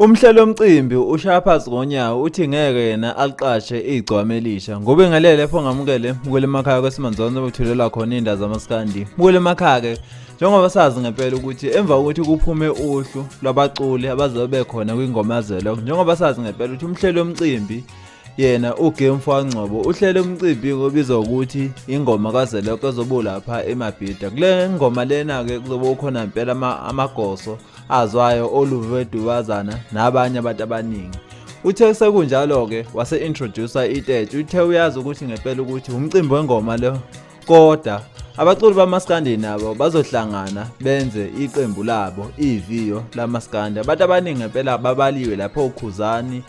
Umhlelo omcimbi ushaya phansi ngonyawo uthi ngeke yena aliqashe igcwame elisha. Ngobe ngalele pho ngamukele mukele emakhaya kwesimanje zonke bethulelwa khona indawo zamaskandi. Mukele emakhaya ke njengoba sazi ngempela ukuthi emva kokuthi kuphume uhlu lwabaculi abazobe khona kwingoma zelok njengoba sazi ngempela ukuthi umhleli womcimbi yena uGame Fangcobo uhlele umcimbi obizwa ukuthi ingoma kaZeloko ezobu lapha eMabhida kule ngoma lena ke kuzobe ukhona impela amagoso azwayo oluve dubazana nabanye abantu abaningi uthe sekunjalo ke wase introducer itete uthe uyazi ukuthi ngempela ukuthi umcimbi wengoma lo Koda abaculi bamaskandi nabo bazohlangana benze iqembu labo iviyo lamaskandi abantu abaningi ngempela babaliwe lapho ukhuzani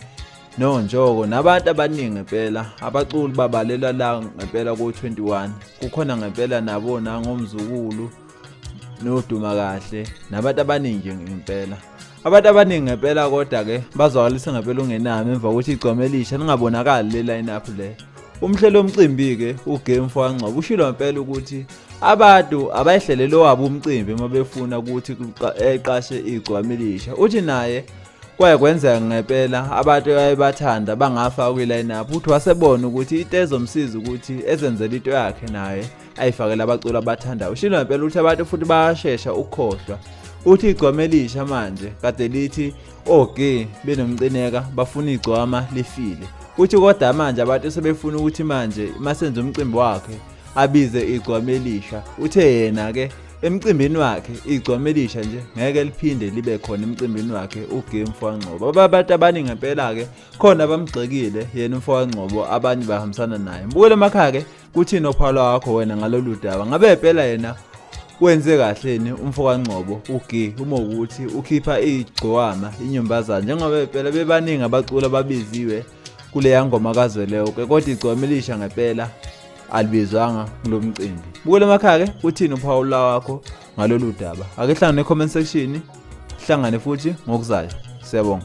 nonjoko nabantu abaningi ngempela abaculi babalelwa la ngempela ko-21 kukhona ngempela nabona ngomzukulu noduma kahle nabantu abaningi ngempela abantu abaningi ngempela kodwa ke bazwakalisa ngempela ungenami emva kokuthi igcome elisha ningabonakali le line up le umhlelo omcimbi ke ugame for angcobo ushilo ngempela ukuthi abantu abayihlelele wabo umcimbi uma befuna ukuthi eqashe igcwami elisha uthi naye kwaye kwenzeka ngempela abantu abayebathanda bangafa kwi-lineup uthi wasebona ukuthi into ezomsiza ukuthi ezenzele into yakhe naye ayifakele abaculi abathandayo ushilo ngempela ukuthi abantu futhi bayashesha ukukhohlwa uthi igcwama elisha manje kade lithi oge benomcineka bafuna igcwama lifile uthi kodwa manje abantu sebefuna ukuthi manje masenze umcimbi wakhe abize igcwama elisha uthe yena ke emcimbini wakhe igcwama elisha nje ngeke liphinde libe khona emcimbini wakhe uGame Mfowangcobo abantu abaningi ngempela ke khona abamgxekile yena uMfowangcobo abanye bahambisana naye mbukele emakhaya ke Kuthini ophalo wakho wena ngalolu daba? Ngabe phela yena wenze kahle ni umfokangcobo ugi uma ukuthi ukhipha igcowama inyombazana njengoba phela bebaningi abacula babiziwe kuleya ngoma kazweleyo ke kodwa igcwama elisha ngempela alibizwanga kulo mcimbi bukele emakhaya ke uthini uphawula wakho ngalolu daba ake hlangane ne-comment section hlangane futhi ngokuzayo siyabonga